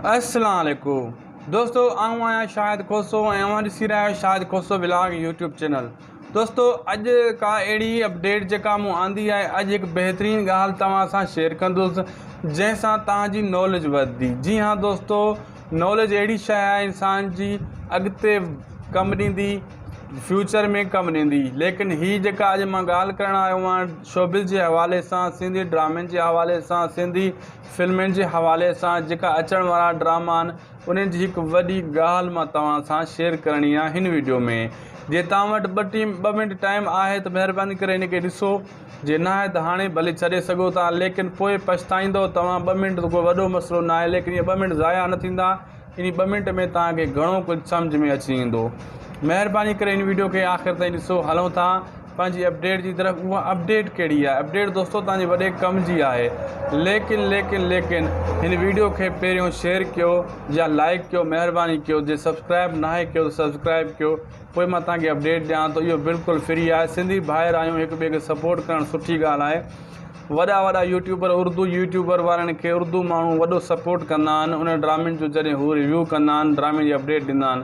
السلام عليڪم دوستو آئون آهيان شاهد کوسو ۽ اوهان ڏسي رهيا آهيو Shahid Khoso vlog YouTube channel دوستو اڄ ڪا اهڙي اپڊيٽ جيڪا مون آندي آهي اڄ هڪ بهترين ڳالهه توهان سان شيئر ڪندس جنهن سان توهان جي نالج وڌندي جي ها دوستو نالج اهڙي شيء آهي انسان جي اڳتي ڪم ڏيندي فيوچر ۾ ڪم ڏيندي ليڪن هي جيڪا اڄ مان ڳالهه ڪرڻ آيو آهيان شوبز جي حوالي سان سنڌي ڊرامن جي حوالي سان سنڌي فلمن جي حوالي سان جيڪا اچڻ وارا ڊراما آهن انهن جي هڪ وڏي ڳالهه مان توهان سان شيئر ڪرڻي آهي هن وڊيو ۾ جي توهان وٽ ٻه ٽيم ٻه منٽ ٽائيم آهي ته مهرباني ڪري هن کي ڏسو جي ناهي ته هاڻي ڀلي ڇڏي سگهو ٿا ليڪن پوء پڇتائيندو توهان ٻه منٽ ته ڪو وڏو مسئلو ناهي ليڪن اهي ٻه منٽ ضايع نه ٿيندا ان ٻه منٽ ۾ توهان کي گهڻو ڪجهه سمجهه ۾ اچي ويندو مهرباني ڪري ان ويڊيو کي آخر تائين ڏسو هلون ٿا پنهنجي اپڊيٽ جي طرف اها اپڊيٽ ڪهڙي آهي اپڊيٽ دوستو توهان جي وڏي ڪم جي آهي ليڪن ليڪن ليڪن هن ويڊيو کي پهريون شيئر ڪيو يا لائڪ ڪيو مهرباني ڪيو جي سبسڪرائب ناهي ڪيو ته سبسڪرائب ڪيو پوء مان توهان کي اپڊيٽ ڏيان ٿو اهو بلڪل فري آهي سنڌي ڀائر آهيون هڪ ٻئي کي سپورٽ ڪرڻ سٺي ڳالهه آهي وڏا وڏا يوٽيوبر اردو يوٽيوبر وارن کي اردو ماڻهو وڏو سپورٽ ڪندا آهن انهن ڊرامن جو جڏهن هو ريويو ڪندا آهن ڊرامي جي اپڊيٽ ڏيندا آهن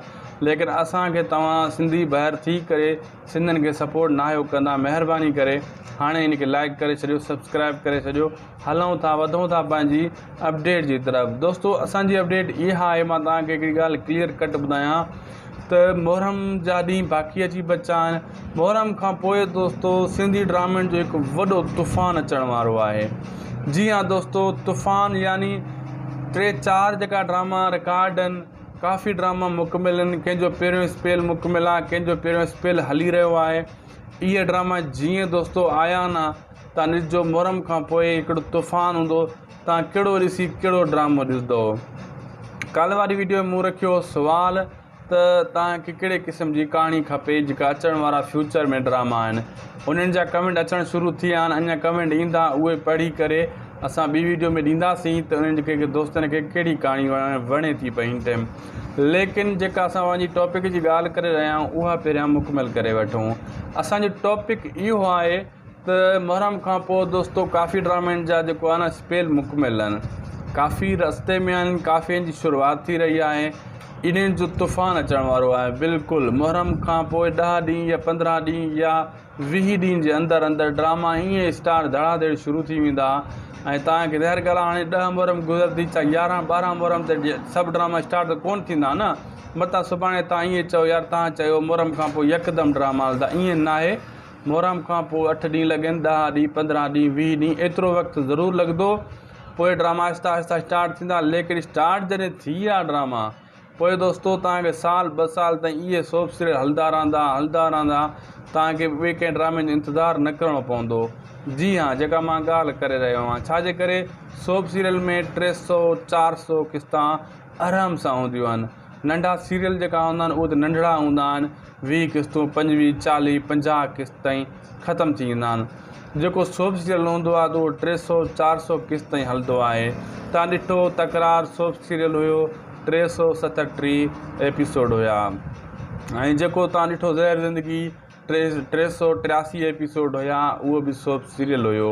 ليڪن اسان کي توهان سنڌي ڀائر ٿي ڪري سندن کي سپورٽ ناهيو ڪندا مهرباني ڪري هاڻي هن کي لائڪ ڪري ڇڏيو سبسڪرائب ڪري ڇڏيو هلون ٿا وڌون ٿا پنهنجي اپڊيٽ جي طرف دوستو اسان جي اپڊيٽ اها آهي مان توهان کي هڪڙي ڳالهه ڪليئر ڪٽ ٻڌايان ته محرم جا ڏينهن باقي اچي بچا آهن محرم کان پوء دوستو سنڌي ڊرامن جو هڪ وڏو طوفان اچڻ وارو آهي جي ها دوستو طوفان يعني ٽي چار جيڪا ڊراما رڪارڊ آهن ڪافي ڊراما مڪمل آهن ڪنهن جو پهريون اسپيل مڪمل آهي ڪنهن جو پهريون اسپيل هلي رهيو آهي اهي ڊراما جيئن دوستو آيا آهن تان ڏس جو محرم کان پوء ڪهڙو طوفان هوندو تان ڪهڙو ڏسي ڪهڙو ڊرامو ڏسندو ڪالهه واري ويڊيو ۾ مون رکيو هو سوال ته تان کي ڪهڙي قسم جي ڪهاڻي کپي جيڪا اچڻ وارا فيوچر ۾ ڊراما آهن انهن جا ڪمينٽ اچڻ شروع ٿي ويا آهن اڃا ڪمينٽ ايندا اهي پڙهي ڪري اسان ٻي ويڊيو ۾ ڏينداسين ته انهن جي ڪي ڪي دوستن کي ڪهڙي ڪهاڻي وڻي ٿي پئي هن ٽائم ليڪن جيڪا اسان پنهنجي ٽاپڪ جي ڳالهه ڪري رهيا آهيون اها پهريان مڪمل ڪري وٺون اسانجو ٽاپڪ اهو آهي ته محرم کان پوء دوستو ڪافي ڊرامن جا جيڪو آهي نه اسپيل مڪمل آهن ڪافي رستي ۾ آهن ڪافين جي شروعات ٿي رهي آهي انهن جو طوفان اچڻ وارو آهي بلڪل محرم کان پوء ڏهه ڏينهن يا پندرهن ڏينهن يا ويهه ڏينهن جي اندر اندر ڊراما ائين اسٽار ڌڙا ڌڙ شروع ٿي ويندا ۽ توهان کي ظاهر ڳالهه هاڻي ڏهه محرم گذرندي چا يارهن ٻارهن محرم تي سڀ ڊراما اسٽار ته ڪون ٿيندا نه متان سڀاڻي توهان ائين چئو يار توهان چيو محرم کان پوء يڪدم ڊراما هلندا ائين ناهي محرم کان پوء اٺ ڏينهن لڳين، ڏهه ڏينهن، پندرهن ڏينهن، ويهه ڏينهن ايترو وقت ضرور لڳندو. پوء ڊراما آهستي آهستي اسٽارٽ ٿيندا. ليڪن اسٽارٽ جڏهن ٿي ويا ڊراما، پوء دوستو توهان کي سال ٻه سال تائين اهي سوپ سيريل هلندا رهندا، هلندا رهندا. توهان کي ٻئي ڪنهن ڊرامي جو انتظار نه ڪرڻو پوندو. جي ها، جيڪا مان ڳالهه ڪري رهيو آهيان. ڇا جي ڪري سوپ سيريل ۾ ٽي سؤ چار سؤ قسطان آرام سان هونديون آهن. ننڍا سيريل جيڪا هوندا آهن، اهي ته ننڍڙا هوندا آهن. ويهه قسطون پنجويهه چاليهه پنجاهه قسط تائين ختم ٿي ويندا آهن جيڪو سوڀ سيريل هوندو آهي ته اهو ٽي سؤ چار سؤ قسط تائين هلندو آهي تان ڏٺو تڪرار سوڀ سيريل هيو ٽي سؤ ست ۽ ٽيهه ايپيسوڊ هيا ۽ جيڪو تان ڏٺو زهر زندگي ٽي سؤ ٽياسي ايپيسوڊ هيا اهو به سوڀ سيريل هيو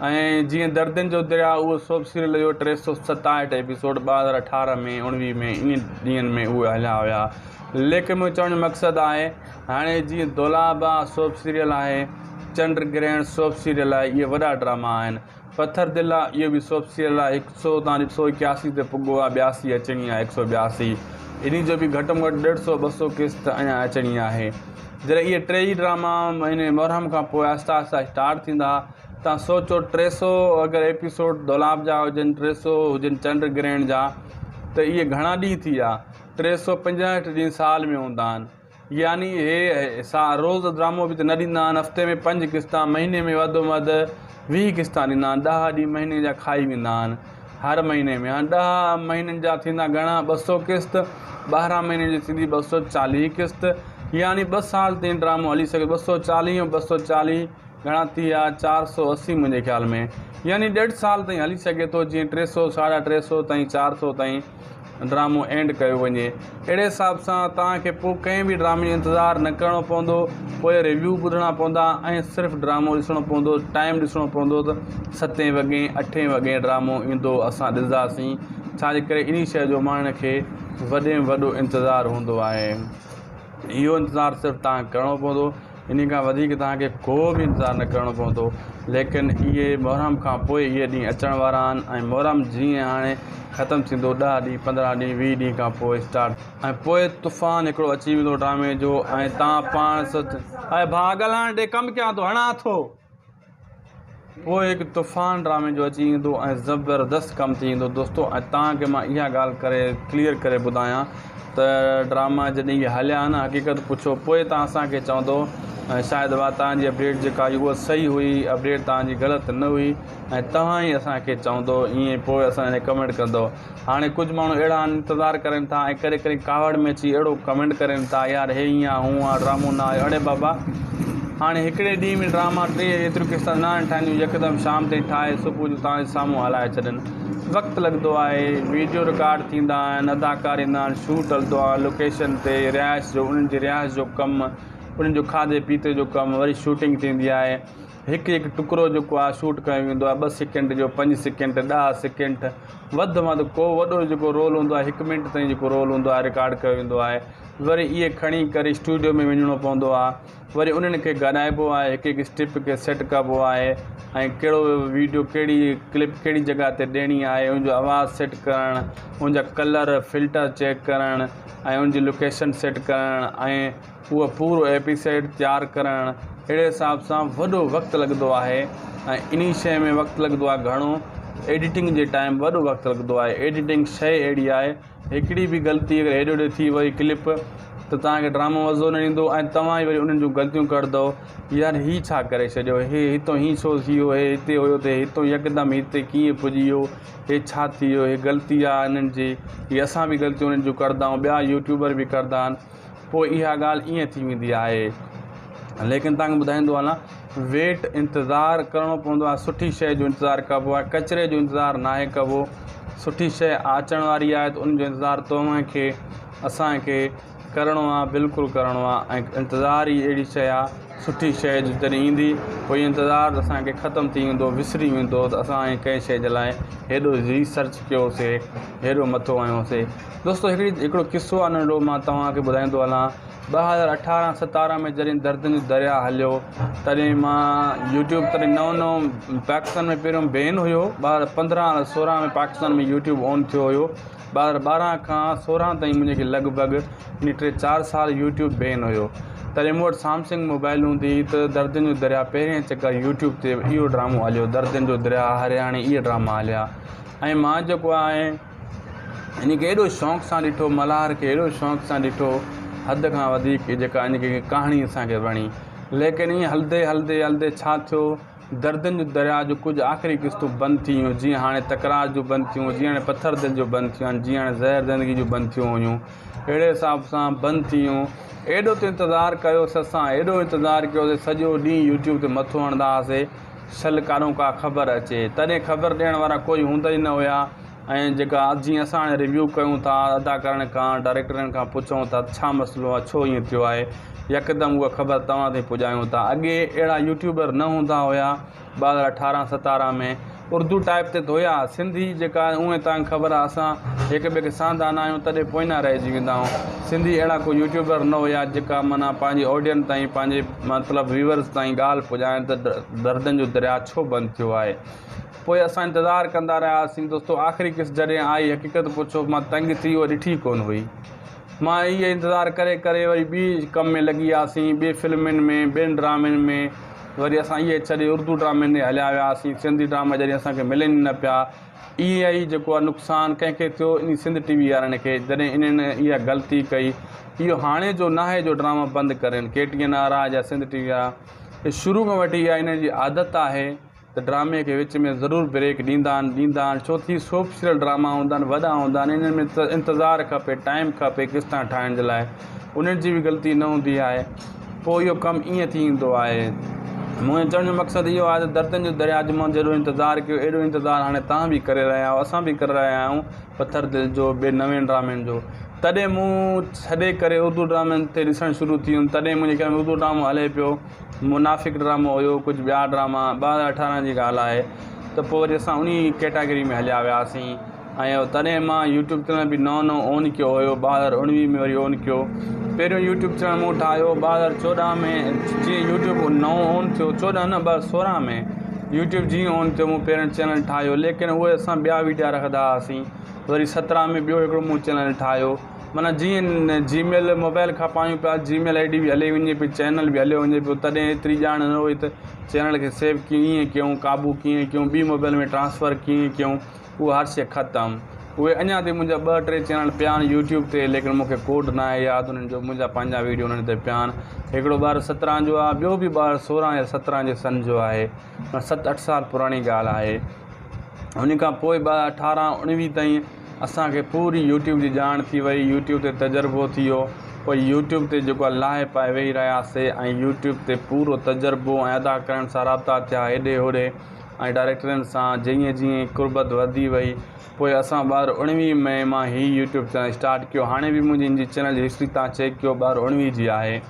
ائين جيئن دردين جو درياء اهو سوڀ سيريل جو ٽي سؤ ستاهٺ ايپيسوڊ ٻه هزار اٺارهن ۾ اڻويهه ۾ انهن ڏينهن ۾ اهي هليا ويا ليڪن منهنجو چوڻ جو مقصد آهي هاڻي جيئن دولابا سوڀ سيريل آهي چنڊ گرهڻ سوڀ سيريل آهي اهي وڏا ڊراما آهن پٿر دل آهي اهو به سوڀ سيريل آهي هڪ سؤ تان هڪ سؤ اڪياسي تي پڳو آهي ٻياسي اچڻي آهي هڪ سؤ ٻياسي انهي جو به گهٽ ۾ گهٽ ڏيڍ سؤ ٻه سؤ قسط اڃان اچڻي آهي جڏهن اهي ٽيئي ڊراما مهيني محرم کان پوء آهستي آهستي اسٽارٽ ٿيندا توهان سوچو ٽي سؤ اگر ايپيسوڊ دولاب جا هجن ٽي سؤ هجن چنڊ گرهڻ جا ته اهي گهڻا ڏينهن ٿي ويا ٽي سؤ پنجاهٺ ڏينهن سال ۾ هوندا آهن يعني اهي روز ڊرامو به ته نه ڏيندا آهن هفتي ۾ پنج قسطا مهيني ۾ وڌ ۾ وڌ ويهه قسطا ڏيندا آهن ڏهه ڏينهن مهيني جا کائي ويندا آهن هر مهيني ۾ هاڻي ڏهه مهينن جا ٿيندا گهڻا ٻه سؤ قسط ٻارهن مهينن جي ٿيندي ٻه سؤ چاليهه قسط يعني ٻه سال تائين ڊرامو هلي سگهي ٻه سؤ چاليهه ٻه سؤ چاليهه گهڻا ٿي ويا، چار سؤ اسي منهنجي خيال ۾ يعني ڏيڍ سال تائين هلي سگهي ٿو، جيئن ٽي سؤ، ساڍا ٽي سؤ تائين چار سؤ تائين ڊرامو اينڊ ڪيو وڃي. اهڙي حساب سان توهان کي پوء ڪنهن به ڊرامي جو انتظار نه ڪرڻو پوندو، پوء ريويو ٻڌڻا پوندا ۽ صرف ڊرامو ڏسڻو پوندو، ٽائيم ڏسڻو پوندو ته ستين وڳين، اٺين وڳين ڊرامو ايندو اسان ڏسنداسين، ڇاجي ڪري انهي شيء جو ماڻهن کي وڏي ۾ وڏو انتظار هوندو آهي. اهو انتظار صرف توهان کي ڪرڻو پوندو. انهي کان وڌيڪ توهان کي ڪو به انتظار نه ڪرڻو پوندو. ليڪن اهي محرم کان پوء اهي ڏينهن اچڻ وارا آهن ۽ محرم جيئن هاڻي ختم ٿيندو ڏهه ڏينهن پندرهن ڏينهن ويهه ڏينهن کان پوء اسٽارٽ ٿيندو. ۽ پوء طوفان هڪڙو اچي ويندو ڊرامي جو ۽ توهان پاڻ سوچ. اي ڀاء ڳالهائڻ ڏي ڪم ڪيان ٿو هڻان ٿو. پوء هڪ طوفان ڊرامي جو اچي ايندو ۽ زبردست ڪم ٿي ويندو دوستو ۽ توهان کي مان اها ڳالهه ڪري ڪليئر ڪري ٻڌايان ته ڊراما جڏهن اهي هليا ها نه حقيقت پڇو پوء توهان اسان کي چوندو ۽ شايد اها توهان جي اپڊيٽ جيڪا هئي اها صحيح هئي اپڊيٽ توهان جي غلط نه هئي ۽ توهان ئي اسان کي چوندو ائين پوء اسان لاء ڪمينٽ ڪندو هاڻي ڪجهه ماڻهو اهڙا آهن انتظار ڪرين ٿا ۽ ڪڏهن ڪڏهن ڪاوڙ ۾ اچي اهڙو ڪمينٽ ڪرين ٿا يار هي هيئن آ هونء آ ڊرامو نه آيو اڙي بابا هاڻي هڪڙي ڏينهن ۾ ڊراما ٽيهه ايتريون قسطن نه آهن ٺهنديون يڪدم شام تائين ٺاهي صبح جو توهان جي سامهون هلائي ڇڏين وقت لڳندو آهي ويڊيو رڪارڊ ٿيندا آهن اداڪار ايندا آهن شوٽ هلندو آهي لوڪيشن تي رهائش جو انهن جي رهائش جو ڪم انهن جو کاڌي پيتي جو ڪم وري شوٽنگ ٿيندي آهي هڪ هڪ ٽڪرو جيڪو آهي شوٽ ڪيو ويندو آهي ٻه سيڪنڊ جو پنج سيڪنڊ ڏهه سيڪنڊ وڌ ۾ وڌ ڪو وڏو جيڪو رول هوندو آهي هڪ منٽ تائين جيڪو رول هوندو آهي رڪارڊ ڪيو ويندو آهي وري اهي کڻي ڪري اسٽوڊيو ۾ وڃڻو پوندو آهي وري انهن کي ڳالهائبو آهي هڪ هڪ اسٽيپ کي سيٽ ڪبو آهي ۽ ڪهڙو ويڊيو ڪهڙي ڪلپ ڪهڙي جڳهه تي ڏيڻي آهي ان جو آواز سيٽ ڪرڻ ان جا ڪلر فلٽر چيڪ ڪرڻ ۽ ان جي لوڪيشن سيٽ ڪرڻ ۽ اهو پورو ايپيسيڊ تيار ڪرڻ اهڙي حساب سان وڏو وقت لڳندو آهي ۽ انهي شئي ۾ وقت لڳندو آهي گهڻو ايڊيٽنگ جي ٽائيم وڏو وقت لڳندو آهي ايڊيٽنگ شئي اهڙي آهي هڪڙي به غلطي اگر هيڏي هوڏي ٿي وئي ڪلپ ته توهان کي ڊرامو مزو نه ايندو ۽ توهان ئي وري انهن جون غلطيون ڪڍندؤ يار هي ڇا ڪري ڇڏيو هي هتو هين ڇو ٿي ويو هي هتي هيو ته هي هتو يڪدم هتي ڪيئن پڄي ويو هي ڇا ٿي ويو هي غلطي آهي انهن جي هي اسان به غلطيون انهن جون ڪڍندؤ ٻيا يوٽيوبر به ڪڍندا آهن پوء اها ڳالهه ائين ٿي ويندي آهي. ليڪن توهان کي ٻڌائيندو هلان ويٽ انتظار ڪرڻو پوندو آهي سٺي شيء جو انتظار ڪبو آهي ڪچري جو انتظار ناهي ڪبو سٺي شيء آچڻ واري آهي ته ان جو انتظار توهان کي اسان کي ڪرڻو آهي بلڪل ڪرڻو آهي ۽ انتظار ئي اهڙي شيء آهي سٺي شيء جو جڏهن ايندي پوء اهو انتظار ته اسان کي ختم ٿي ويندو وسري ويندو ته اسان ڪنهن شيء جي لاء هيڏو ريسرچ ڪيوسي هيڏو مٿو هنيوسي دوستو هڪڙي هڪڙو قصو آهي ننڍڙو مان توهان کي ٻڌائيندو هلان ٻه هزار اٺارهن ستارهن ۾ جڏهن دردن جو درياهه هليو تڏهن مان يوٽيوب تڏهن نئون نئون پاڪستان ۾ پهريون بين هيو ٻه هزار پندرهن سورهن ۾ پاڪستان ۾ يوٽيوب آن ٿيو هيو ٻه هزار ٻارهن کان سورهن تائين مون کي لڳ ڀڳ يعنيٰ ٽي چار سال يوٽيوب بين هيو تڏهن مون وٽ سامسنگ موبائل هوندي هئي ته دردن جو درياهه پهرين چڪر يوٽيوب تي اهو ڊرامو هليو دردن جو درياهه هرياڻي اهي ڊراما هليا ۽ مان جيڪو آهي انهيء کي ايڏو شوق سان ڏٺو، ملهار کي ايڏو شوق سان ڏٺو، حد کان وڌيڪ جيڪا ان جي ڪهاڻي اسان کي وڻي. ليڪن ائين هلندي هلندي هلندي ڇا ٿيو، دردن جون درياء جون ڪجهه آخري قسطون بند ٿي ويون، جيئن هاڻي تڪرار جون بند ٿيون، جيئن هاڻي پٿر دل جون بند ٿيون آهن، جيئن هاڻي زهر زندگيء جون بند ٿيون هيون، اهڙي حساب سان بند ٿي ويون. ايڏو ته انتظار ڪيو سسان، ايڏو انتظار ڪيو جو سڄو ڏينهن يوٽيوب تي مٿو هڻندا هئاسين. سل ڪانو ڪا خبر اچي. تڏهن خبر ڏيڻ وارا ڪوئي هوندا ئي نه هيا ۽ جيڪا جيئن اسان هاڻي ريويو ڪيون ٿا، اداڪارن کان، ڊائريڪٽرن کان پڇون ٿا ته ڇا مسئلو آهي، ڇو ائين ٿيو آهي، يڪدم اها خبر توهان تائين پڄايون ٿا. اڳي اهڙا يوٽيوبر نه هوندا هيا ٻه هزار اٺارهن ستارهن ۾ اردو ٽائيپ تي ته هيا، سنڌي جيڪا اونهي تانگهه خبر آهي اسان هڪ ٻئي کي سهندا نه آهيون تڏهن پوئينا رهجي ويندا آهيون. سنڌي اهڙا ڪوئي يوٽيوبر نه هيا جيڪا معنيٰ پنهنجي آڊينس تائين پنهنجي مطلب ويورز تائين ڳالهه پڄائڻ ته دردن جو درياء ڇو بند ٿيو آهي پوء اسان انتظار ڪندا رهياسين دوستو آخري قسط جڏهن آئي حقيقت پڇو مان تنگ ٿي اها ڏٺي ڪونه هئي مان اهي انتظار ڪري ڪري وري ٻي ڪم ۾ لڳي وياسين ٻي فلمن ۾ ٻين ڊرامن ۾ وري اسان اهي ڇڏي اردو ڊرامن ڏي هليا وياسين سنڌي ڊراما جڏهن اسان کي ملن ئي نه پيا اي اي جيڪو آ نقصان ڪنهن کي ٿيو انهي سنڌ ٽي وي وارن کي جڏهن انهن اها غلطي ڪئي اهو هاڻي جو ناهي جو ڊراما بند ڪرين ڪي ٽي اين آر آ يا سنڌ ٽي وي آ کي شروع کان وٺي اها انهن جي عادت آهي ته ڊرامي کي وچ ۾ ضرور بريڪ ڏيندا آهن ڏيندا آهن ڇو ٿي سوپ سيريل ڊراما هوندا آهن وڏا هوندا آهن انهن ۾ انتظار کپي ٽائيم کپي قسطان ٺاهڻ جي لاء انهن جي به غلطي نه هوندي آهي، پوء اهو ڪم ائين ٿي ايندو آهي. منهنجي چوڻ جو مقصد اهو آهي ته دردن جي درياء جو منهن جهڙو انتظار ڪيو، اهڙو انتظار هاڻي توهان به ڪري رهيا آهيو، اسان به ڪري رهيا آهيون پٿر دل جو، ٻين نوين ڊرامن جو. تڏهن مون ڇڏي ڪري اردو ڊرامن تي ڏسڻ شروع ٿي هيم، تڏهن منهنجي خيال ۾ اردو ڊرامو هلي پيو، منافق ڊرامو هيو، ڪجهه ٻيا ڊراما، ٻه هزار اٺارهن جي ڳالهه آهي ته پوء وري اسان انهي ڪيٽاگري ۾ هليا وياسين. آهيو تڏهن مان يوٽيوب چينل به نئون نئون اون ڪيو هيو ٻه هزار اڻويهه ۾ وري اون ڪيو پهريون يوٽيوب چينل مون ٺاهيو ٻه هزار چوڏهن ۾ جيئن يوٽيوب نئون اون ٿيو چوڏهن نه ٻه هزار سورهن ۾ يوٽيوب جيئن اون ٿيو مون پهريون چينل ٺاهيو ليڪن اهي اسان ٻيا ويڊيا رکندا هئاسين وري سترهن ۾ ٻيو هڪڙو مون چينل ٺاهيو معنيٰ جيئن جي ميل موبائل کان پايون پيا جي ميل آئي ڊي به هلي وڃي پئي چينل به هليو وڃي پيو تڏهن ايتري ڄاڻ نه هئي ته چينل کي سيو ڪيئن ڪيون قابو ڪيئن ڪيون ٻي موبائل ۾ ٽرانسفر ڪيئن ڪيون هو هارسي ختم. اهي اڃا تائين منهنجا ٻه ٽي چينل پيا آهن يوٽيوب تي ليڪن مون کي ڪوڊ ناهي ياد انهن جو منهنجا پنهنجا ويڊيو انهن تي پيا آهن هڪڙو ٻار سترهن جو آهي ٻيو به ٻار سورهن يا سترهن جي سن جو آهي معنيٰ ست اٺ سال پراڻي ڳالهه آهي ان کان پوء ٻه اٺارهن اڻويهه تائين اسان کي پوري يوٽيوب جي ڄاڻ ٿي وئي يوٽيوب تي تجربو ٿي ويو پوء يوٽيوب تي جيڪو آهي لاهي پائي ويهي رهياسي ۽ يوٽيوب تي پورو تجربو ۽ ادا ڪرڻ سان رابطا ٿيا هيڏي هوڏي ۽ ڊائريڪٽرين سان جيئن جيئن قربت وڌي وئي پوء اسان ٻار اڻويهه مئي مان هي يوٽيوب چينل اسٽارٽ ڪيو هاڻي به منهنجي ان جي چينل جي هسٽري تان چيڪ ڪيو ٻار اڻويهه جي آهي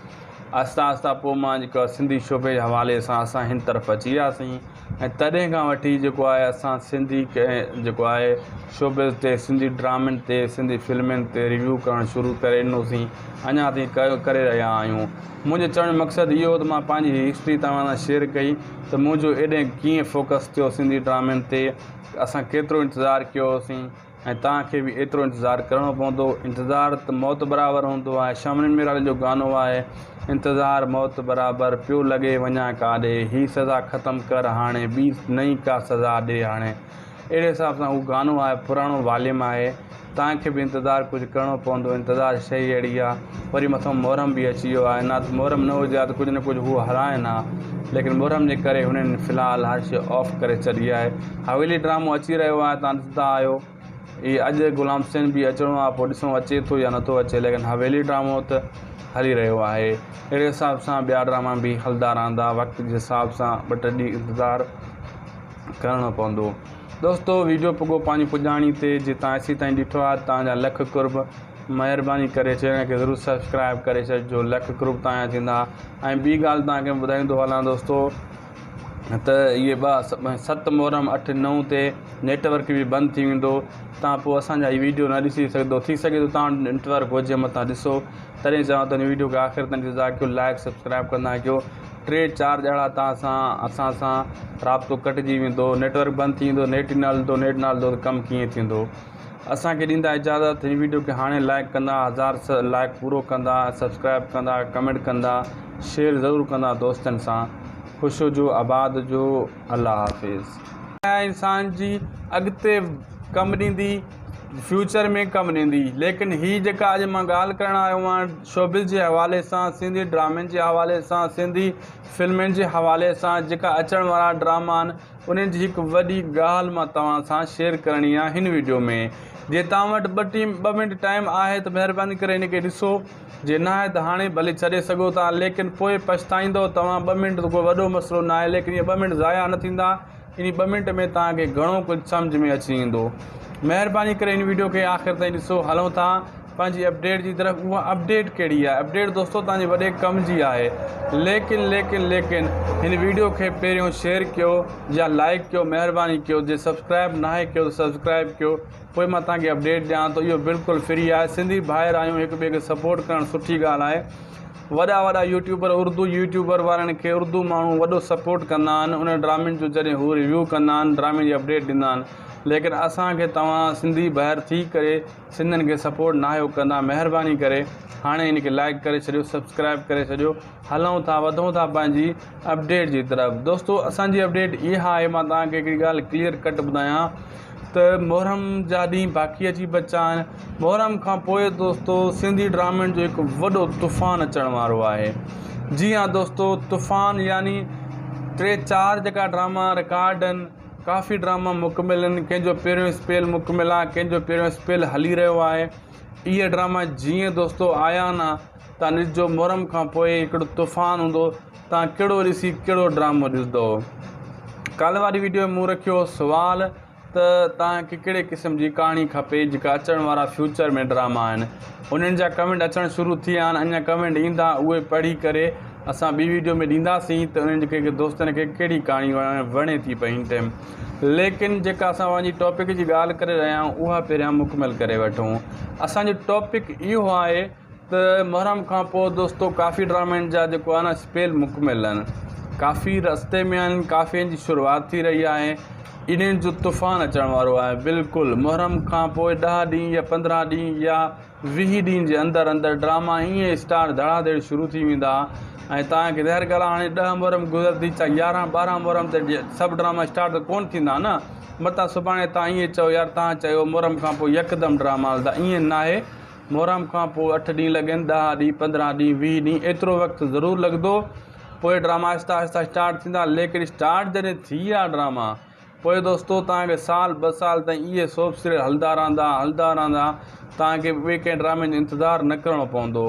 آهسته آهسته پوء مان جيڪو آهي سنڌي شعبي جي حوالي سان اسان هن طرف اچي وياسين ۽ تڏهن کان وٺي جيڪو آهي اسان سنڌي جيڪو آهي شعبي تي سنڌي ڊرامن تي سنڌي فلمن تي ريويو ڪرڻ شروع ڪري ڏنوسين اڃا تائين ڪري رهيا آهيون منهنجو چوڻ جو مقصد اهو هو ته مان پنهنجي هي هسٽري توهان سان شيئر ڪئي ته منهنجو ايڏهن ڪيئن فوڪس ٿيو سنڌي ڊرامن تي اسان ڪيترو انتظار ڪيو هوسين ۽ توهان کي به ايترو انتظار ڪرڻو پوندو انتظار ته موت برابر هوندو آهي شاملين ميراڻي جو گانو آهي انتظار موت برابر پيو لڳي وڃان ڪاڏي هي سزا ختم ڪر هاڻي ٻي نئين ڪا سزا ڏي هاڻي اهڙي حساب سان هو گانو آهي پراڻو واليم آهي تان کي به انتظار ڪجهه ڪرڻو پوندو انتظار شئي اهڙي آ وري مٿو محرم به اچي ويو آهي نات محرم نه هجي ها ته ڪجهه نه ڪجهه هو هرائين ها ليڪن محرم جي ڪري هنن في الحال هر شئي آف ڪري ڇڏي آهي حويلي ڊرامو اچي رهيو آهي تان ڏسندا آهيو اي اڄ غلام حسين به اچڻو آهي پو ڏسون اچي ٿو يا نٿو اچي ليڪن حويلي ڊرامو ته هلي رهيو آهي اهڙي حساب سان ٻيا ڊراما به هلدا رهندا وقت جي حساب سان ٻه ٽي ڏينهن انتظار ڪرڻو پوندو دوستو ويڊيو پڳو پنهنجي پڄاڻي تي جي تان ايسي تائين ڏٺو آ تان جا لک قرب مهرباني ڪري چينل کي ضرور سبسڪرائب ڪري ڇڏ جو لک قرب تان جا ٿيندا ۽ ٻي ڳالهه تان کي ٻڌائيندو هلان دوستو ته اهي با ست محرم اٺ نو تي نيٽ ورڪ به بند ٿي ويندو تان پوء اسان جا هي ويڊيو نه ڏسي سگهندو ٿي سگهي ٿو تان نيٽ ورڪ هجي متان ڏسو تڏهن چاهو ته هن ويڊيو کي آخر تان ڏسو ذاڪر لائڪ سبسڪرائب ڪندا ڪيو ٽي چار ڄاڙا تان سان اسان سان رابطو ڪٽجي ويندو نيٽورڪ بند ٿي ويندو نيٽ ئي نه هلندو نيٽ نه هلندو ته ڪم ڪيئن ٿيندو اسان کي ڏيندا اجازت هن ويڊيو کي هاڻي لائڪ ڪندا هزار لائڪ پورو ڪندا سبسڪرائب ڪندا ڪمينٽ ڪندا شيئر ضرور ڪندا دوستن سان خوش هجو آباد هجو الله حافظ. دنيا انسان جي اڳتي ڪم ڏيندي فيوچر ۾ ڪم ڏيندي ليڪن هي جيڪا اڄ مان ڳالهه ڪرڻ آيو آهيان شوبز جي حوالي سان، سنڌي ڊرامن جي حوالي سان، سنڌي فلمن جي حوالي سان جيڪا اچڻ وارا ڊراما آهن انهن جي هڪ وڏي ڳالهه مان توهان سان شيئر ڪرڻي آهي هن وڊيو ۾ جي توهان وٽ ٻه ٽيم ٻه منٽ ٽائيم آهي ته مهرباني ڪري هن کي ڏسو جي ناهي ته هاڻي ڀلي ڇڏي سگهو ٿا ليڪن پوء پڇتائيندو توهان ٻه منٽ ته ڪو وڏو مسئلو ناهي ليڪن اهي ٻه منٽ ضايع نه ٿيندا انهي ٻه منٽ ۾ توهان کي گهڻو ڪجهه سمجهه ۾ اچي ويندو مهرباني ڪري هن وڊيو کي آخر تائين ڏسو هلون ٿا پنهنجي اپڊيٽ جي طرف اها اپڊيٽ ڪهڙي آهي اپڊيٽ دوستو توهان جي وڏي ڪم جي آهي ليڪن ليڪن ليڪن هن ويڊيو کي پهريون شيئر ڪيو يا لائيڪ ڪيو مهرباني ڪيو جي سبسڪرائيب ناهي ڪيو ته سبسڪرائيب ڪيو پوء مان توهان کي اپڊيٽ ڏيان ٿو اهو بلڪل فري آهي سنڌي ڀائر آهيون هڪ ٻئي کي سپورٽ ڪرڻ سٺي ڳالهه آهي وڏا وڏا يوٽيوبر اردو يوٽيوبر وارن کي اردو ماڻهو وڏو سپورٽ ڪندا آهن انهن ڊرامن جو جڏهن هو ريويو ڪندا آهن ڊرامي جي اپڊيٽ ڏيندا آهن ليڪن اسان کي توهان سنڌي ڀائر ٿي ڪري سنڌين کي سپورٽ ناهيو ڪندا مهرباني ڪري هاڻي هن کي لائيڪ ڪري ڇڏيو سبسڪرائيب ڪري ڇڏيو هلون ٿا وڌون ٿا پنهنجي اپڊيٽ جي طرف دوستو اسان جي اپڊيٽ اها آهي مان توهان کي هڪڙي ڳالهه ڪليئر ڪٽ ٻڌايان ته محرم جا ڏينهن باقي اچي بچا آهن محرم کان پوء دوستو سنڌي ڊرامن جو هڪ وڏو طوفان اچڻ وارو آهي جي هاں دوستو طوفان يعني ٽي چار جيڪا ڊراما رڪارڊ آهن ڪافي ڊراما مڪمل آهن ڪنهن جو پهريون اسپيل مڪمل آهي ڪنهن جو پهريون اسپيل هلي رهيو آهي اهي ڊراما جيئن دوستو آيا آهن تان ڏسجو محرم کان پوء هڪڙو طوفان هوندو تان ڪهڙو ڏسي ڪهڙو ڊرامو ڏسندو ڪالهه واري ويڊيو ۾ مون رکيو سوال ته تان کي ڪهڙي قسم جي ڪهاڻي کپي جيڪا اچڻ وارا فيوچر ۾ ڊراما آهن انهن جا ڪمينٽ اچڻ شروع ٿي ويا آهن اڃا ڪمينٽ ايندا اهي پڙهي ڪري اسان ٻي ويڊيو ۾ ڏينداسين ته انهن کي ڪي دوستن کي ڪهڙي ڪهاڻي وڻي ٿي پئي هن ٽيم ليڪن جيڪا اسان پنهنجي ٽاپڪ جي ڳالهه ڪري رهيا آهيون اها پهريان مڪمل ڪري وٺون اسان جو ٽاپڪ اهو آهي ته محرم کان پوء دوستو ڪافي ڊرامن جا جيڪو آهي نه اسپيل مڪمل آهن ڪافي رستي ۾ آهن ڪافين جي شروعات ٿي رهي آهي انهن جو طوفان اچڻ وارو آهي بلڪل محرم کان پوء ڏهه ڏينهن يا پندرهن ڏينهن يا ويهه ڏينهن جي اندر اندر ڊراما ائين اسٽارٽ ڌڙا ڌڙ شروع ٿي ويندا ۽ تان ڪري هر ڳالهه هاڻي ڏهه محرم گذرندي چا يارهن ٻارهن محرم تي سڀ ڊراما اسٽارٽ ته ڪونه ٿيندا نه متان سڀاڻي تان ائين چئو يار تان چيو محرم کان پوء يڪدم ڊراما هلندا ائين ناهي محرم کان پوء اٺ ڏينهن لڳن ڏهه ڏينهن پندرهن ڏينهن ويهه ڏينهن ايترو وقت ضرور لڳندو پوء ڊراما آهستي آهستي اسٽارٽ ٿيندا ليڪن اسٽارٽ جڏهن ٿي ويا ڊراما پوء دوستو توهان کي سال ٻه سال تائين اهي سوپ سيريل هلندا رهندا هلندا رهندا توهان کي ٻئي ڪنهن ڊرامي جو انتظار نه ڪرڻو پوندو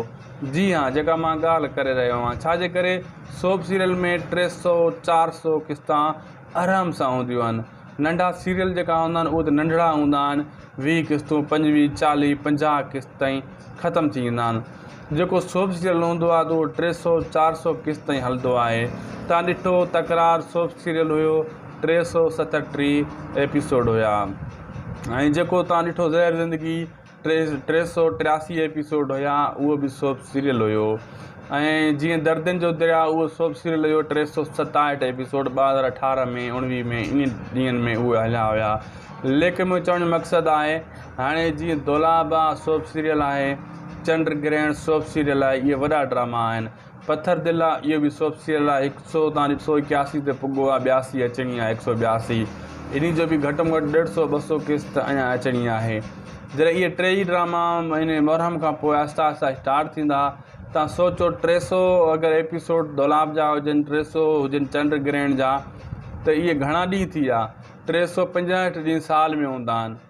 جي ها جيڪا مان ڳالهه ڪري رهيو آهيان ڇاجي ڪري سوپ سيريل ۾ ٽي سؤ چار سؤ قسطا آرام سان هونديون آهن ننڍا سيريل جيڪا هوندا آهن اهو ته ننڍڙا هوندا آهن ويهه قسطون پنجويهه چاليهه پنجاهه قسط تائين ختم ٿي ويندا آهن جيڪو سوپ سيريل هوندو آهي ته اهو ٽي سو چار سو قسط تائين هلندو آهي تان ڏٺو تڪرار سوپ سيريل هيو ٽي سو ستٽيهه ايپيسوڊ هيا ۽ جيڪو تان ڏٺو زهر زندگي ٽي ٽي سؤ ٽياسي ايپيسوڊ هيا اهو به سوپ سيريل هيو ۽ جيئن دردين جو دريا اهو سوپ سيريل هيو ٽي سؤ ستاهٺ ايپيسوڊ ٻه هزار اٺارهن ۾ اوڻويهه ۾ انهي ڏينهن ۾ اهي هليا هيا ليکي منهنجو چوڻ جو مقصد آهي هاڻي جيئن دولابا سوپ سيريل آهي چنڊ گرهڻ سوپ سيريل آهي اهي وڏا ڊراما آهن پٿر دل آ اهو به سوڀ سيريل آ هڪ سو تان هڪ سو ايڪياسي تي پڳو آ ٻياسي اچڻي آ هڪ سو ٻياسي انهي جو به گهٽ م گهٽ ڏيڍ سو ٻه سو قسط اڃان اچڻي آهي جڏهن اهي ٽي ئي ڊراما مهيني محرم کان پوء آهسته آهسته اسٽارٽ ٿيندا تان سوچو ٽي سو اگر ايپيسوڊ دولاب جا هجن ٽي سو هجن چنڊ گرهڻ جا ته اهي گهڻا ڏينهن ٿي ويا ٽي سو پنجهٺ ڏينهن سال ۾ هوندا آهن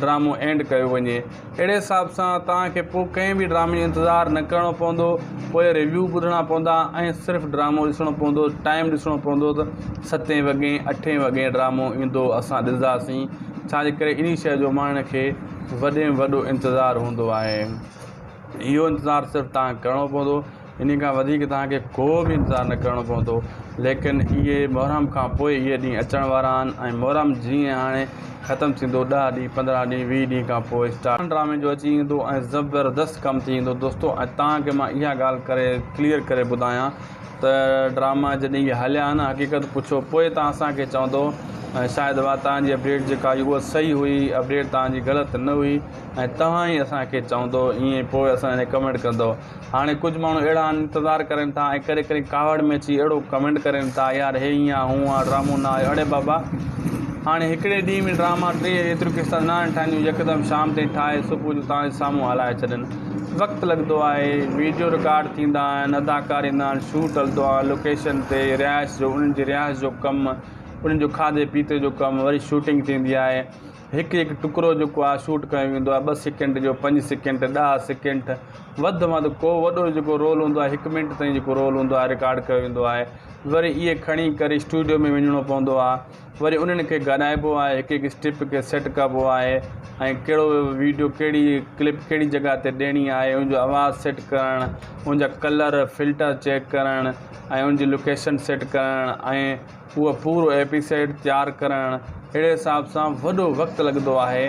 ڊرامو اينڊ ڪيو وڃي اهڙي حساب سان توهان کي پوء ڪنهن به ڊرامي جو انتظار نه ڪرڻو پوندو پوء ريويو ٻڌڻا پوندا ۽ صرف ڊرامو ڏسڻو پوندو ٽائيم ڏسڻو پوندو ته ستين وڳي اٺين وڳي ڊرامو ايندو اسان ڏسنداسين ڇاجي ڪري انهي شيء جو ماڻهن کي وڏي ۾ وڏو انتظار هوندو آهي اهو انتظار صرف توهان کي ڪرڻو پوندو انهي کان وڌيڪ توهان کي ڪو به انتظار نه ڪرڻو پوندو. ليڪن اهي محرم کان پوء اهي ڏينهن اچڻ وارا آهن ۽ محرم جيئن هاڻي ختم ٿيندو ڏهه ڏينهن پندرهن ڏينهن ويهه ڏينهن کان پوء اسٽارٽ ٿيندو. ڊرامي جو اچي ايندو ۽ زبردست ڪم ٿي ايندو دوستو ۽ توهان کي مان اها ڳالهه ڪري ڪليئر ڪري ٻڌايان ته ڊراما جڏهن اهي هليا ها نه حقيقت پڇو پوء توهان اسان کي چوندو ۽ شايد اها توهان جي اپڊيٽ جيڪا هئي اها صحيح هئي اپڊيٽ توهان جي غلط نه هئي ۽ توهان ئي اسان کي چوندو ايئن پوء اسان لاء ڪمينٽ ڪندو. هاڻي ڪجهه ماڻهو اهڙا آهن انتظار ڪرين ٿا ۽ ڪڏهن ڪڏهن ڪاوڙ ۾ اچي اهڙو ڪمينٽ ڪرين ٿا يار هي هيئن آ هونئن آ ڊرامو نه آيو اڙي بابا هاڻي هڪڙي ڏينهن ۾ ڊراما ٽيهه ايتريون قسطا نه آهن ٺاهنديون يڪدم شام تائين ٺاهي صبح جو توهان جي سامهون هلائي ڇڏين وقت لڳندو آهي ويڊيو رڪارڊ ٿيندا آهن اداڪار ايندا آهن شوٽ هلندو آهي لوڪيشن تي رهائش جو انهن جي رهائش جو ڪم انهن جو کاڌي پيتي جو ڪم وري شوٽنگ ٿيندي آهي هڪ هڪ ٽڪرو جيڪو آهي شوٽ ڪيو ويندو آهي ٻه سيڪنڊ جو پنج سيڪنڊ ڏهه سيڪنڊ وڌ ۾ وڌ ڪو وڏو جيڪو رول هوندو آهي هڪ منٽ تائين جيڪو رول هوندو آهي رڪارڊ ڪيو ويندو آهي وري اهي کڻي ڪري اسٽوڊيو ۾ وڃڻو پوندو آهي وري انهن کي ڳالهائبو آهي هڪ هڪ اسٽيپ کي سيٽ ڪبو آهي ۽ ڪهڙو ويڊيو ڪهڙي ڪلپ ڪهڙي جڳهه تي ڏيڻي آهي ان جو آواز سيٽ ڪرڻ ان جا ڪلر فلٽر چيڪ ڪرڻ ۽ ان جي لوڪيشن سيٽ ڪرڻ ۽ اهو پورو ايپيسائيڊ تيار ڪرڻ اهڙي حساب سان وڏو وقت لڳندو آهي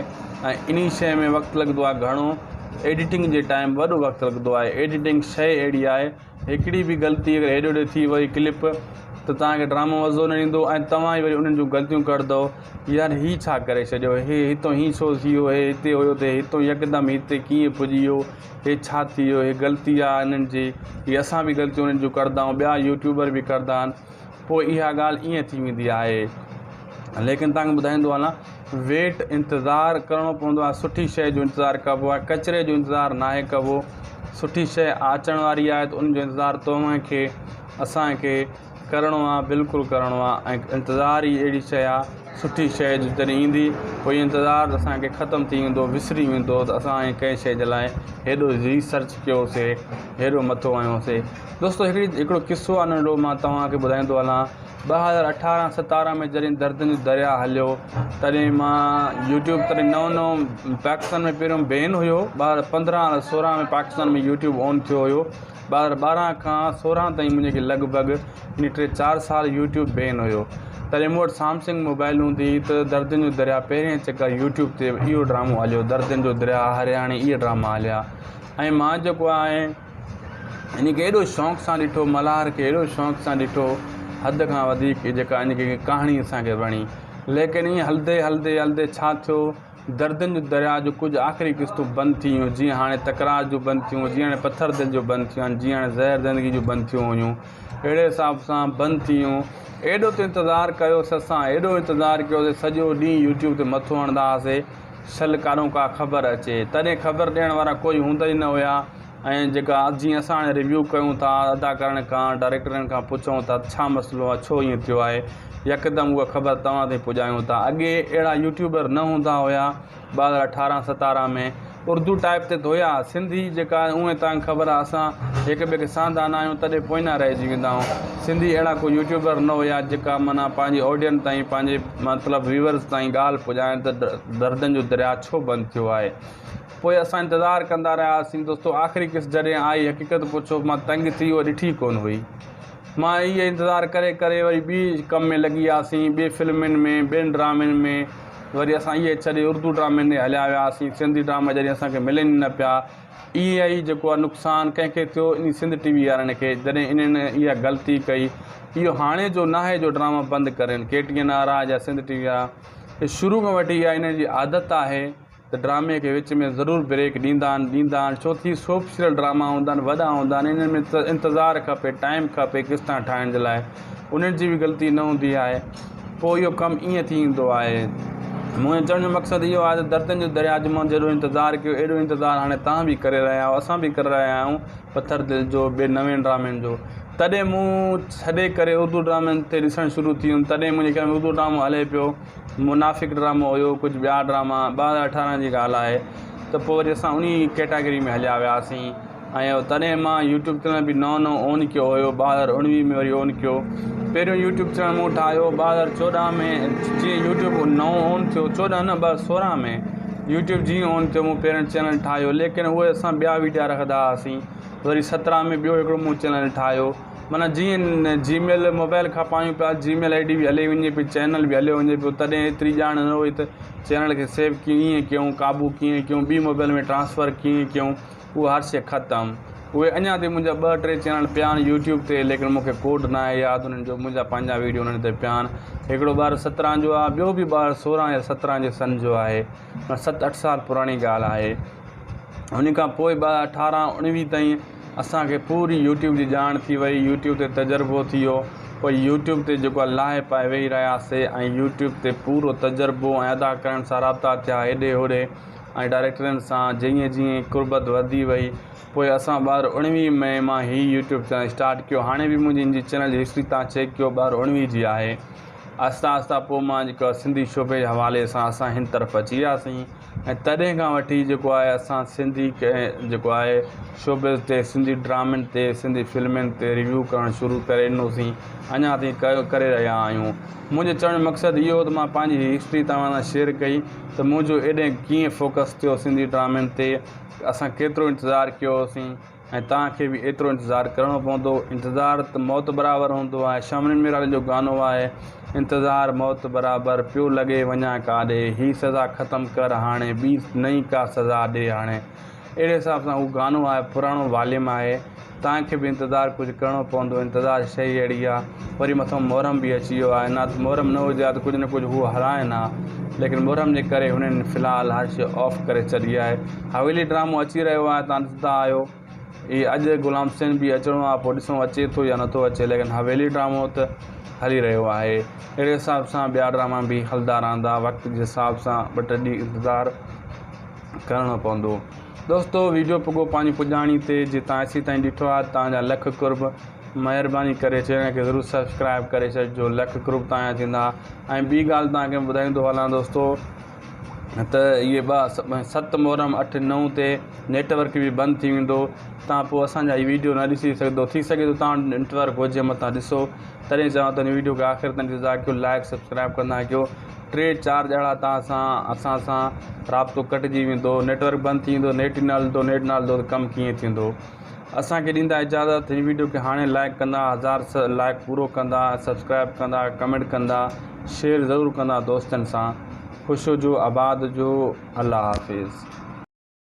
۽ انهي شيء ۾ وقت لڳندو آهي گهڻو ايڊيٽنگ جي ٽائيم وڏو وقت لڳندو آهي ايڊيٽنگ شيء اهڙي آهي هڪڙي به غلطي اگر هيڏي هوڏي ٿي وئي ڪلپ ته توهان کي ڊرامو مزو نه ايندو ۽ توهان ئي وري انهن جون غلطيون ڪڍندؤ يار هي ڇا ڪري ڇڏيو هي هتو هين ڇو ٿي ويو هي هتي هيو ته هي هتو يڪدم هتي ڪيئن پڄي ويو هي ڇا ٿي ويو هي غلطي آهي انهن جي هي اسان به غلطيون انهن جون ڪڍندا آهيون ٻيا يوٽيوبر به ڪڍندا آهن پوء اها ڳالهه ائين ٿي ويندي آهي. ليڪن توهان کي ٻڌائيندو هلان ويٽ انتظار ڪرڻو پوندو آهي سٺي شيء جو انتظار ڪبو آهي ڪچري جو انتظار ناهي ڪبو سٺي شيء آچڻ واري آهي ته ان جو انتظار توهان کي اسان کي ڪرڻو آهي بلڪل ڪرڻو آهي ۽ انتظار ئي اهڙي شيء آهي سٺي شيء جو جڏهن ايندي پوء اهو انتظار ته اسان کي ختم ٿي ويندو وسري ويندو ته اسان ڪنهن شيء جي لاء هيڏو ريسرچ ڪيوسي هيڏو مٿو هنيوسي دوستو هڪڙي هڪڙو قصو آ ننڍڙو مان توهان کي ٻڌائيندو هلان ٻه هزار اٺارهن ستارهن ۾ جڏهن دردن جو دريا هليو تڏهن مان يوٽيوب تڏهن نئون نئون پاڪستان ۾ پهريون بين هيو ٻه هزار پندرهن ۽ سورهن ۾ پاڪستان ۾ يوٽيوب آن ٿيو هيو ٻه هزار ٻارهن کان سورهن تائين منهنجي کي لڳ ڀڳ يعني ٽي چار سال يوٽيوب بين هيو تڏهن مون وٽ سامسنگ موبائل هوندي هئي ته دردن جو دريا پهرين چڪر يوٽيوب تي اهو ڊرامو هليو دردن جو دريا هرياڻي اهي ڊراما هليا ۽ مان جيڪو آهي انهيء کي ايڏو شوق سان ڏٺو، ملهار کي ايڏو شوق سان ڏٺو، حد کان وڌيڪ جيڪا انهيء کي ڪهاڻي اسان کي وڻي. ليڪن ائين هلندي هلندي هلندي ڇا ٿيو؟ دردن جو درياء جون ڪجهه آخري قسطون بند ٿي ويون، جيئن هاڻي تڪرار جون بند ٿيون، جيئن هاڻي پٿر دل جون بند ٿيون آهن، جيئن هاڻي زهر زندگيء جون بند ٿيون هيون، اهڙي حساب سان بند ٿي ويون. ايڏو ته انتظار ڪيوس اسان، ايڏو انتظار ڪيوس، سڄو ڏينهن يوٽيوب تي مٿو هڻندا هئاسين. سل ڪانو ڪا خبر اچي. تڏهن خبر ڏيڻ وارا ڪوئي هوندا ئي نه هيا ۽ جيڪا جيئن اسان هاڻي ريويو ڪيون ٿا، ادا ڪارڻين کان، ڊائريڪٽرين کان پڇون ٿا ته ڇا مسئلو آهي، ڇو ائين ٿيو آهي، يڪدم اها خبر توهان تائين پڄايون ٿا. اڳي اهڙا يوٽيوبر نه هوندا هيا ٻه هزار اٺارهن ستارهن ۾ اردو ٽائيپ تي ته هيا، سنڌي جيڪا اونهي تانگهه خبر آهي اسان هڪ ٻئي کي سهندا نه آهيون تڏهن پوئيان رهجي ويندا آهيون. سنڌي اهڙا ڪو يوٽيوبر نه هيا جيڪا معنيٰ پنهنجي آڊيئن تائين پنهنجي. مطلب ويورز تائين ڳالهه پڄائڻ ته دردن جو درياء ڇو بند ٿيو آهي پوء اسان انتظار ڪندا رهياسين دوستو آخري قسط جڏهن آئي حقيقت پڇو مان تنگ ٿي اهو ڏٺي ڪونه هئي مان اهي انتظار ڪري ڪري وري ٻي ڪم ۾ لڳي وياسين ٻي فلمن ۾ ٻين ڊرامن ۾ وري اسان اهي ڇڏي اردو ڊرامن ڏي هليا وياسين سنڌي ڊراما جڏهن اسان کي ملن ئي نه پيا اي اي اي جيڪو آ نقصان ڪنهن کي ٿيو انهي سنڌ ٽي وي وارن کي جڏهن انهن اها غلطي ڪئي اهو هاڻي جو ناهي جو ڊراما بند ڪرين ڪي ٽي اين آر آ يا سنڌ ٽي وي آ اهي شروع کان وٺي اها انهن جي عادت آهي ته ڊرامي کي وچ ۾ ضرور بريڪ ڏيندا آهن ڏيندا آهن ڇو ٿي سوپ سيريل ڊراما هوندا آهن وڏا هوندا آهن انهن ۾ انتظار کپي ٽائيم کپي قسطا ٺاهڻ جي لاء انهن جي به غلطي نه هوندي آهي پوء اهو ڪم ائين ٿي ايندو آهي. منهنجو چوڻ جو مقصد اهو آهي ته دردن جو درياء جي منهن جهڙو انتظار ڪيو، اهڙو انتظار هاڻي توهان به ڪري رهيا آهيو، اسان به ڪري رهيا آهيون پٿر دل جو ٻين نوين ڊرامن جو. تڏهن مون ڇڏي ڪري اردو ڊرامن تي ڏسڻ شروع ٿي هيم، تڏهن منهنجي خيال ۾ اردو ڊرامو هلي پيو، منافق ڊرامو هيو، ڪجهه ٻيا ڊراما، ٻه هزار اٺارهن جي ڳالهه آهي ته پوء وري اسان انهي ڪيٽاگري ۾ هليا وياسين. آهيان تڏهن مان يوٽيوب چينل به نئون نئون اون ڪيو هيو ٻه هزار اڻويهه ۾ وري اون ڪيو پهريون يوٽيوب چينل مون ٺاهيو ٻه هزار چوڏهن ۾ جيئن يوٽيوب نئون اون ٿيو چوڏهن نه ٻه هزار سورهن ۾ يوٽيوب جيئن اون ٿيو مون پهريون چينل ٺاهيو ليڪن اهي اسان ٻيا ويڊيا رکندا هئاسين وري سترهن ۾ ٻيو هڪڙو مون چينل ٺاهيو معنيٰ جيئن جي ميل موبائل کان پايون پيا جي ميل آئي ڊي به هلي وڃي پئي چينل به هليو وڃي پيو تڏهن ايتري ڄاڻ نه هئي ته چينل کي سيو ڪيئن ڪيون قابو ڪيئن ڪيون ٻي موبائل ۾ ٽرانسفر ڪيئن ڪيون اهو حادثي ختم اهي اڃا تائين منهنجا ٻه ٽي چينل پيا آهن يوٽيوب تي ليڪن مونکي ڪوڊ نه آهي ياد انهن جو منهنجا پنهنجا ويڊيو انهن تي پيا آهن هڪڙو ٻار سترهن جو آهي ٻيو به ٻار سورهن يا سترهن جي سن جو آهي ست اٺ سال پراڻي ڳالهه آهي ان کان پوء ٻ اٺارهن اڻويهه تائين اسانکي پوري يوٽيوب جي ڄاڻ ٿي وئي يوٽيوب تي تجربو ٿي ويو پوء يوٽيوب تي جيڪو آهي لاهي پائي ويهي رهياسي ۽ يوٽيوب تي پورو تجربو ۽ ادا ڪرڻ سان رابطا ٿيا هيڏي هوڏي ۽ ڊائريڪٽرن سان جيئن جيئن قربت وڌي وئي پوء اسان ٻار اڻويهه مئي مان هي يوٽيوب چينل اسٽارٽ ڪيو هاڻي به منهنجي ان جي چينل جي هسٽري تان چيڪ ڪيو ٻار اڻويهه جي آهي آهستي آهستي پوء مان جيڪو آهي سنڌي شعبي جي حوالي سان اسان هن طرف اچي وياسين ۽ تڏهن کان وٺي جيڪو آهي اسان سنڌي جيڪو آهي شعبي تي سنڌي ڊرامن تي سنڌي فلمن تي ريويو ڪرڻ شروع ڪري ڏنوسين اڃا تائين ڪري رهيا آهيون منهنجو چوڻ جو مقصد اهو هو ته مان پنهنجي هي هسٽري توهان سان شيئر ڪئي ته منهنجو ايڏهن ڪيئن فوڪس ٿيو سنڌي ڊرامن تي اسان ڪيترو انتظار ڪيو هوسين ۽ توهان کي به ايترو انتظار ڪرڻو پوندو انتظار ته موت برابر هوندو آهي شاملين ميراڻي جو گانو آهي انتظار موت برابر پيو لڳي وڃان ڪاڏي هي سزا ختم ڪر هاڻي ٻي نئين ڪا سزا ڏي هاڻي اهڙي حساب سان هو گانو آهي پراڻو واليم آهي تان کي به انتظار ڪجهه ڪرڻو پوندو انتظار شئي اهڙي آ وري مٿو محرم به اچي ويو آهي نه محرم نه هجي ها ته ڪجهه نه ڪجهه هو هلائين ها ليڪن محرم جي ڪري هنن في الحال هر شئي آف ڪري ڇڏي آهي حويلي ڊرامو اچي رهيو آهي توهان ڏسندا آهيو هي اڄ غلام حسين به اچڻو آهي پوء ڏسون اچي ٿو يا نٿو اچي ليڪن حويلي ڊرامو ته هلي رهيو آهي اهڙي حساب سان ٻيا ڊراما به هلدا رهندا وقت جي حساب سان ٻه ٽي ڏينهن انتظار ڪرڻو پوندو دوستو ويڊيو پڳو پنهنجي پڄاڻي تي جي تان ايسي تائين ڏٺو آ تان جا لک قرب مهرباني ڪري چينل کي ضرور سبسڪرائب ڪري ڇڏ جو لک قرب تان جا ٿيندا ۽ ٻي ڳالهه تان کي ٻڌائيندو هلان دوستو ته اهي ٻه ست محرم اٺ نو تي نيٽورڪ به بند ٿي ويندو تان پوء اسان جا هي ويڊيو نه ڏسي سگهندو ٿي سگهي ٿو تان نيٽورڪ هجي متان ڏسو تڏهن چوان ٿو هن ويڊيو کي آخر تان ڏسو ذاڪر لائڪ سبسڪرائب ڪندا ڪيو ٽي چار ڄڻا تان سان اسان سان رابطو ڪٽجي ويندو نيٽورڪ بند ٿي ويندو نيٽ ئي نه هلندو نيٽ نه هلندو ته ڪم ڪيئن ٿيندو اسانکي ڏيندا اجازت هي ويڊيو کي هاڻي لائڪ ڪندا هزار لائڪ پورو ڪندا سبسڪرائب ڪندا ڪمينٽ ڪندا شيئر ضرور ڪندا دوستن سان خوش هجو آباد هجو الله حافظ